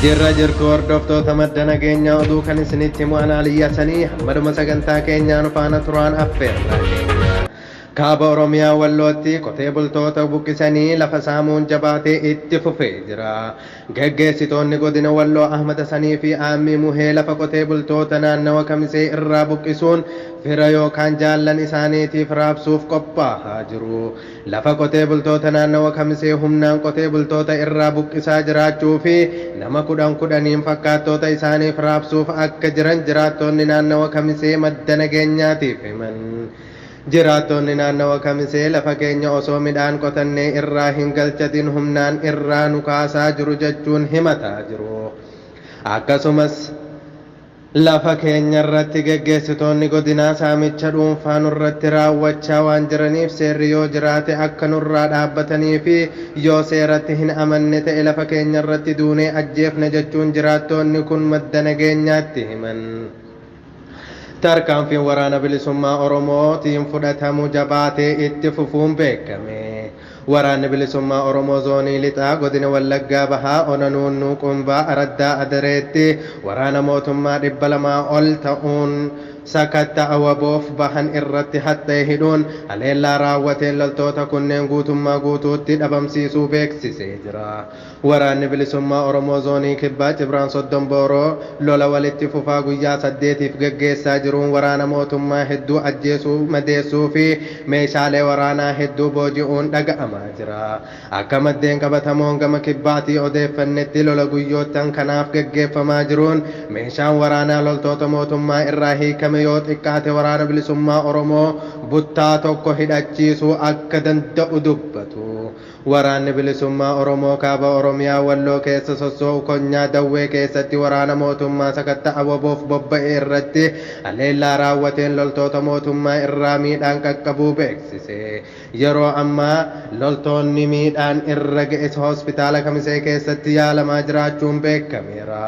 Jirra jirtu hordoftoota madda nageenya oduu kan isinitti himu anaa liyyasanii hammaduma sagantaa keenyaan faana turaan affeerra. Kaaba Oromiyaa Wallootti qotee bultoota buqqisanii lafa saamuun jabaatee itti fufee jira. Geggeessitoonni Godina Walloo Ahmad Hasanii fi Aammii Muhee lafa qotee bultoota naannawa Kamisee irraa buqqisuun fira yookaan jaallan isaaniitiif raabsuuf qophaahaa jiru. Lafa qotee bultoota naannawa Kamisee humnaan qotee bultoota irraa buqqisaa jiraachuu fi nama kudhan kudhaniin fakkaattoota isaaniif raabsuuf akka jiran jiraattoonni naannawa Kamisee madda nageenyaatiif himan. Jiraattoonni naannawa Kamisee lafa keenya osoo midhaan qotannee irraa hin galchatin humnaan irraa nu kaasaa jiru jechuun himataa jiru. Akkasumas lafa keenyarratti geggeessitoonni godinaa saamicha dhuunfaa nurratti raawwachaa waan jiraniif seerri yoo jiraate akka nurraa dhaabbatanii fi yoo seeratti hin amanne ta'e lafa keenyarratti duunee ajjeefna jechuun jiraattoonni kun madda nageenyaatti himan. Tarkaanfiin Waraana Bilisummaa Oromoo tiin fudhatamu jabaatee itti fufuun beekame. Waraanni Bilisummaa Oromoo Zoonii Lixaa Godina Wallaggaa Bahaa Ona Nuunnuu Qumbaa Araddaa Adareetti waraana mootummaa 200 ol ta'uun sakatta'a waboof bahan irratti haxxee hidhuun haleellaa raawwateen loltoota kunneen guutummaa guutuutti dhabamsiisuu beeksisee jira. Waraanni Bilisummaa Oromoo Zoonii Kibbaa Cibraan Soddom Booroo lola walitti fufaa guyyaa saddeetiif gaggeessaa jiruun waraana mootummaa hedduu ajjeesuu, madeessuu fi meeshaalee waraanaa hedduu booji'uun dhaga'amaa jira. Akka maddeen qabatamoon gama Kibbaatii odeeffannetti lola guyyoottan kanaaf gaggeeffamaa jiruun meeshaan waraanaa loltoota mootummaa irraa hiikame yoo xiqqaate Waraana Bilisummaa Oromoo buttaa tokko hidhachiisuu akka danda'u dubbatu. Waraanni Bilisummaa Oromoo Kaaba Oromiyaa Walloo keessa sossoo'u konyaa Dawwee keessatti waraana mootummaa sakatta'a wbof bobba'e irratti haleellaa raawwateen loltoota mootummaa irraa miidhaan qaqqabuu beeksise. Yeroo ammaa loltoonni miidhaan irra ga'es Hospitaala Kamisee keessatti yaalamaa jiraachuun beekameera.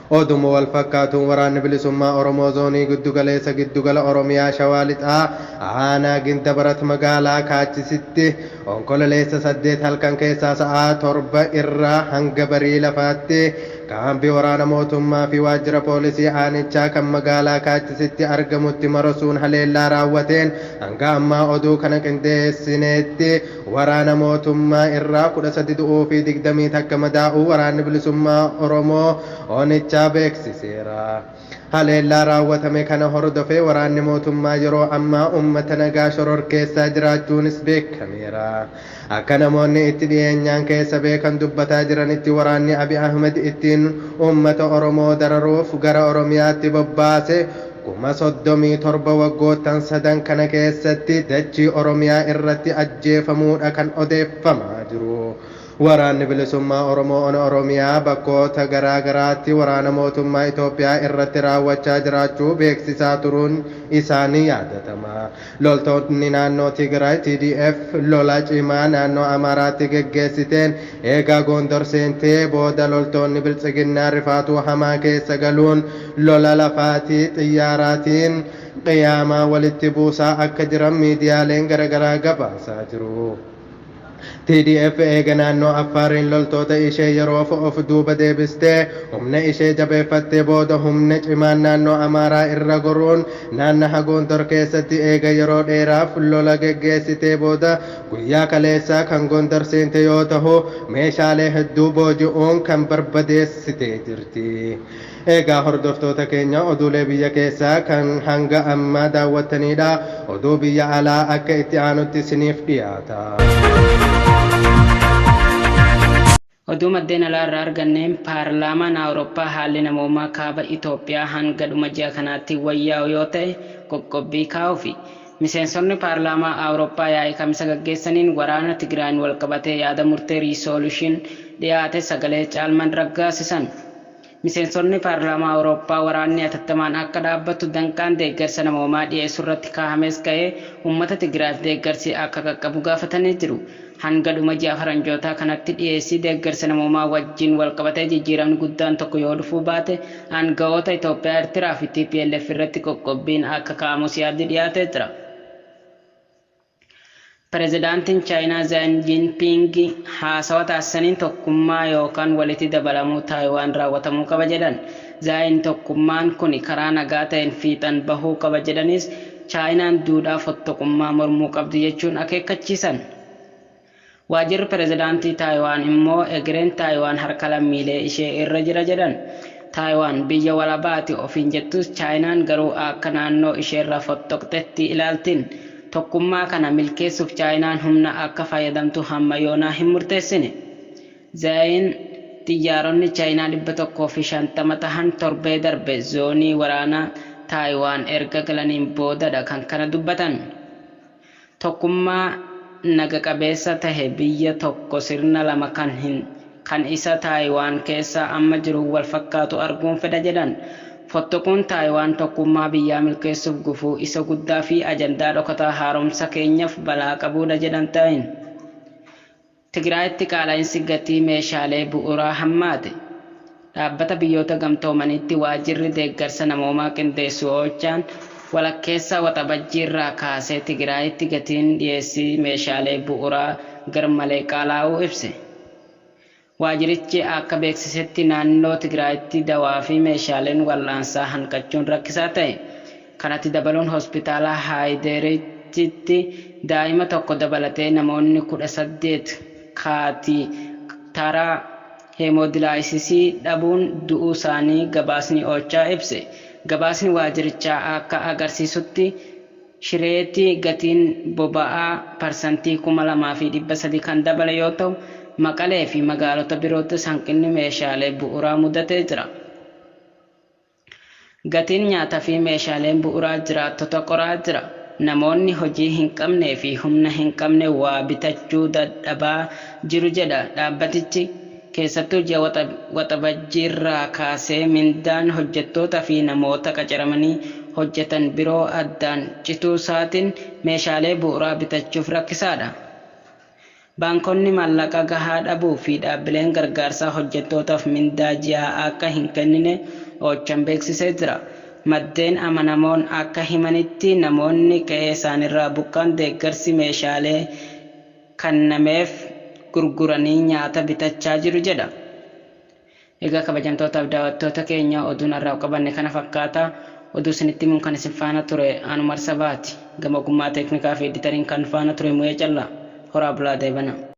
Oduma walfakkaatuun Waraanni Bilisummaa Oromoo Zoonii Giddugaleessa Giddugala Oromiyaa Shawaa Lixaa Aanaa Gindabarat Magaalaa Kaachisitti Onkololeessa 8 halkan keessaa sa'aa 7:00 irraa hanga barii lafaatti Kaambii Waraana Mootummaa fi Waajjira Poolisii Aanichaa kan Magaalaa Kaachisitti argamutti marosuun haleellaa raawwateen hanga ammaa oduu kana qindeessineetti Waraana mootummaa irraa 13 du'uu fi 21 madaa'uu Waraanni Bilisummaa Oromoo, Onichaa, beeksiseera. Haleellaa raawwatame kana hordofee waraanni mootummaa yeroo ammaa uummata nagaa shororkeessaa jiraachuunis beekameera. Akka namoonni itti dhiyeenyaan keessa beekan dubbataa jiranitti waraanni Abiy Ahimad ittiin uummata Oromoo dararuuf gara Oromiyaatti bobbaase, 37 waggoottan sadan kana keessatti dachii Oromiyaa irratti ajjeefamuu dha kan odeeffamaa jiru. Waraanni Bilisummaa Oromoo Ona Oromiyaa bakkoota garaa garaatti waraana mootummaa Itoophiyaa irratti raawwachaa jiraachuu beeksisaa turuun isaa ni yaadatama. Loltootni naannoo Tigraay TDF lola cimaa naannoo Amaaraatti geggeessiteen eega Goondor seentee booda loltoonni Biltsiginnaa rifaatuu hamaa keessa galuun lola lafaafi xiyyaaraatiin qiyaamaa walitti buusaa akka jiran miidiyaaleen garagaraa gabaasaa jiru. TDF eega naannoo Affaariin loltoota ishee yeroof of duuba deebistee humna ishee jabeeffattee booda humna cimaan naannoo Amaaraa irra goruun naannaha Gondor keessatti eega yeroo dheeraaf lola geggeessitee booda guyyaa kaleessaa kan Gondor seente yoo tahu meeshaalee hedduu booji'uun kan barbadeessitee jirti. Eegaa hordoftoota keenya oduulee biyya keessaa kan hanga ammaa daawwattaniidha. Oduu biyya alaa akka itti aanutti isiniif dhiyaata. Oduu maddeen alaa irraa arganne, Paarlaamaan Awurooppaa haalli namoomaa Kaaba Itoophiyaa hanga dhuma ji'a kanaatti wayyaa'u yoo ta'e qoqqobbii kaa'uufi. Miseensonni Paarlaamaa Awurooppaa yaa'ii Kamisa gaggeessaniin waraana Tigraayiin walqabatee yaada murtee, resolution, dhiyaate sagalee caalmaan raggaasisan. Miseensonni Paarlaamaa Awurooppaa waraanni atattamaan akka dhaabbatu danqaan deeggarsa namoomaa dhiyeessuurratti kaahames ka'ee uummata Tigraayiif deeggarsi akka qaqqabu gaafatanii jiru. Hanga dhuma ji'a Faranjootaa kanatti dhiyeessii deeggarsa namoomaa wajjin walqabatee jijjiiramni guddaan tokko yoo dhufuu baate aanga'oota Itoophiyaa, Ertiraa fi tplf irratti qoqqobbiin akka kaa'amus yaaddi dhiyaatee jira. Pirezidaantiin Chaayinaa Zhang Jinping haasawa taasisaniin tokkummaa yookaan walitti dabalamuu Taayiwaan raawwatamuu qaba jedhan. Zhang tokkummaan kuni karaa nagaa ta'een fiixan bahuu qaba jedhaniis, Chaayinaan duudhaa fottoqummaa mormuu qabdi jechuun akeekkachiisan. Waajirri Pirezidaantii Taayiwaan immoo egereen Taayiwaan harka lammiilee ishee irra jira jedhan. Taayiwaan biyya walabaati ofiin jettus Chaayinaan garuu akka naannoo isheerra fottoqxetti ilaaltiin. Tokkummaa kana milkeessuuf Chaayinaan humna akka fayyadamtu hamma yoonaa hin murteessine. Zhaayiin xiyyaaronni Chaayinaa 150 tahan torbee darbe zoonii waraanaa Taayiwaan erga galaniin boodadha kan kana dubbatan. Tokkummaa naga qabeessa tahe biyya tokko sirna lama kan hin kan isa Taayiwaan keessaa amma jiruun wal fakkaatu arguun fedha jedhan. Fottoquun Taayiwaan tokkummaa biyyaa milkeessuuf gufuu isa guddaa fi ajandaa dhokataa haaromsa keenyaf balaa qabuudha jedhan Taayin. Tigraayitti qaala'insi gatii meeshaalee bu'uuraa hammaate. Dhaabbata Biyyoota Gamtoomaniitti Waajirri Deeggarsa Namoomaa Qindeessu Ochaan walakkeessa Waxabajjiirraa kaasee Tigraayitti gatiin dhiyeessii meeshaalee bu'uuraa garmalee qaalaa'uu ibse. Waajirichi akka beeksisetti naannoo Tigraayitti dawaafi meeshaaleen wal'aansaa hanqachuun rakkisaa ta'e. Kanatti dabaluun Hospitaala Haayiderichitti daa'ima tokko dabalatee namoonni 18 kaatitara heemoodilaayisisii dhabuun du'uusaanii gabaasni Ocha ibse. Gabaasni waajirichaa akka agarsiisutti Shireetti gatiin boba'aa parsantii 2,300 kan dabale yoo ta'u, Maqaleefi magaalota biroottis hanqinni meeshaalee bu'uuraa mudatee jira. Gatiin nyaata fi meeshaaleen bu'uraa jiraattota qoraa jira. Namoonni hojii hin qabnee fi humna hin qabne waa bitachuu dadhabaa jiru jedha dhaabbatichi. Keessattuu ji'a Waxabajjiirraa kaasee mindaan hojjettoota fi namoota qacaramanii hojjetan biroo addaan cituusaatiin meeshaalee bu'uraa bitachuuf rakkisaadha. Baankonni maallaqa gahaa dhabuu fi dhaabbileen gargaarsaa hojjettootaaf mindaa ji'aa akka hin kennine Ochan beeksisee jira. Maddeen amanamoon akka himanitti namoonni qe'eesaaniirraa buqqa'an deeggarsi meeshaalee kannameef gurguranii nyaata bitachaa jiru jedha. Egaa kabajamtootaaf daawattoota keenya oduun har'aaf qabanne kana fakkaata. Oduu isinitti himuun kan isin faana ture an Umar Sabaati. Gama ogummaa teeknikaa fi editariin kan faana ture Mu'ee Callaa. Horaa bulaa deebana.